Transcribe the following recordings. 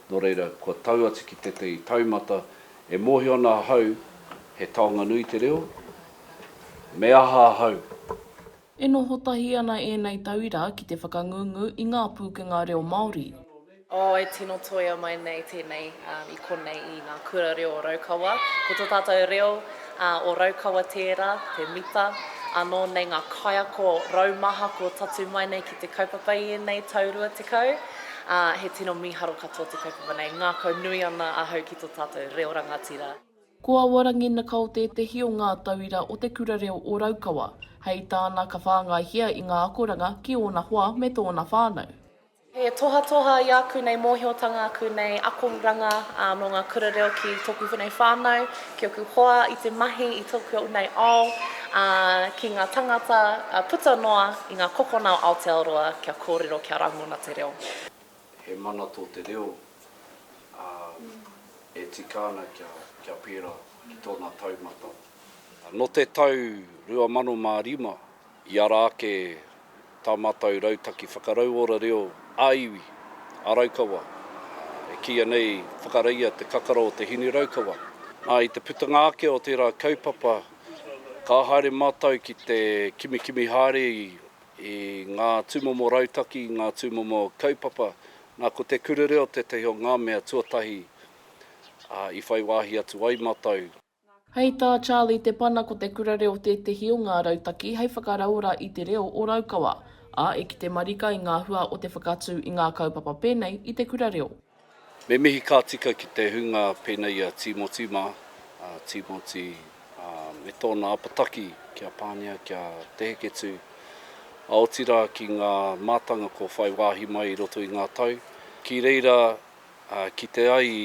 Nō reira, kua tau atu ki tētahi taumata e mōhio ana ahau he taonga nui te reo, me aha ahau? E noho tahi ana ēnei tauira ki te whakangungu i ngā pūkenga reo Māori. Oh, e tino toia mai nei tēnei i konei i ngā kura reo o Raukawa. Ko tō tātou reo, Ā, o Raukawa tērā, te mita, anō nei ngā kaiako raumaha kua tatū mai nei ki te kaupapa i ēnei tau rua tekau, ā, he tino mīharo katoa te kaupapa nei, ngākau nui ana ahau ki tō tātou reo rangatira. Ko Awa Ranginakao tētehi o ngā tauira o Te Kura Reo o Raukawa, hei tāna ka whāngaihia i ngā akoranga ki ōna hoa me tōna whānau. He tohatoha i āku nei mōhiotanga, āku nei akoranga mō ngā kura reo ki tōku whēnei whānau, ki ōku hoa, i te mahi i tōku nei ao, ā, ki ngā tāngata puta noa i ngā kokona o Aotearoa kia kōrero, kia rangona te reo. He mana tō te reo, ā, e tika ana kia, kia pērā ki tōna taumata. Nō te tau 2005, I ara ake tā mātou rautaki whakarauora reo ā-iwi, ā-raukawa, e kīia nei Whakareia te kakara o te hinu raukawa. Nā, i te putanga ake o tērā kaupapa, ka haere mātou ki te kimikimi haere i ngā tūmomo rautaki, i ngā tūmomo kaupapa. Nā, ko te kura reo tētahi o ngā mea tuatahi i whai wāhi atu ai mātou. Hei tā Charlie Te Pana ko te kura reo tētehi o ngā rautaki hei whakarauora i te reo o Raukawa, ā, e kite marika i ngā hua o te whakatū i ngā kaupapa pēnei i te kura reo. Me mihi ka tika ki te hunga pēnei i a Tīmoti mā, a Tīmoti me tōna apataki ki a Pānia kia Te Heketū, ā, otirā ki ngā mātanga kua whai wāhi mai i roto i ngā tau, ki reira kite ai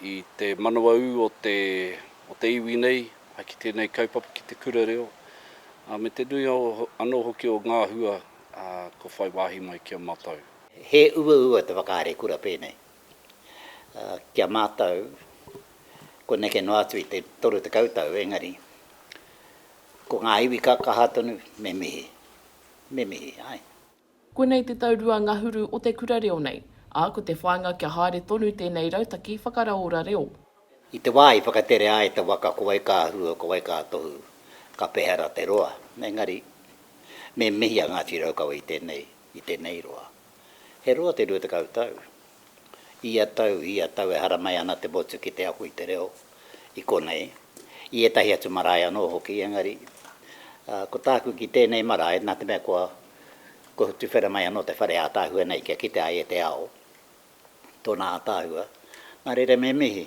i te manawa ū o te, o te iwi nei, a ki tēnei kaupapa, ki te kura reo, ā, me te nui o, anō hoki o ngā hua, ā, kua whai wāhi mai ki a mātou. He uaua te whakahaere kura pēnei, ā, ki a mātou, kua neke noa atu i te 30 tau, engari, ko ngā iwi ka kaha tonu, me mihi, me mihi, āe. Konei te tau rua ngahuru o te kura reo nei, ā, ko te whāinga kia haere tonu tēnei rautaki whakaraora reo. I te wā i whakatere ai te waka ko wai ka hua, ko wai ka tohu, ka pehara te roa, engari me mihi a Ngāti Raukawa i tēnei, i tēnei roa. He roa te rua tekau tau, Ia tau, ia tau e haramai ana te motu ki te ako i te reo i konei, i ētahi atu marae anō hoki, engari, ko tāku ki tēnei marae, nā te mea kua, kua tuwhera mai anō te whare ātaahua nei kia kite ai e te ao tōna ātaahua, nā reira me mihi.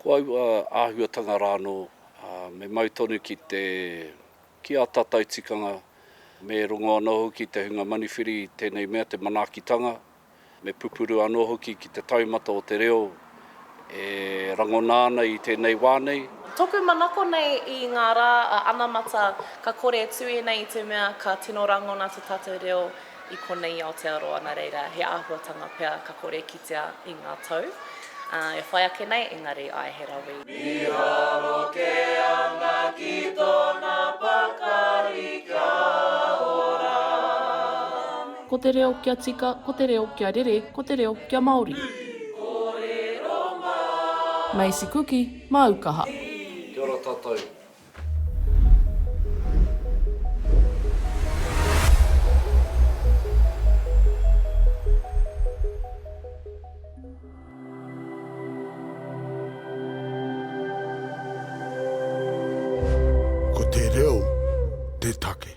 Ko aua āhuatanga rānō, me mau tonu ki te, ki ā tātou tikanga, me rongo anō hoki te hunga manuwhiri i tēnei mea, te manaakitanga, Me pupuru anō hoki ki te taumata o te reo e rangona ana i tēnei wā nei. Tōku manako nei i ngā rā a anamata ka kore e tū ēnei i te mea ka tino rangona te tātou reo i konei i Aotearoa nā reira he āhuatanga pea ka kore e kitea i ngā tau e whai ake nei engari āe he rawe i Mīharo kē ana ki tōna pakari kia ora. Ko te reo kia tika, ko te reo kia rere, ko te reo kia Māori. Ii, Kōrero mai. Macy Kuki, māu kaha. Ii, Kia ora tātou. Ko te reo te take.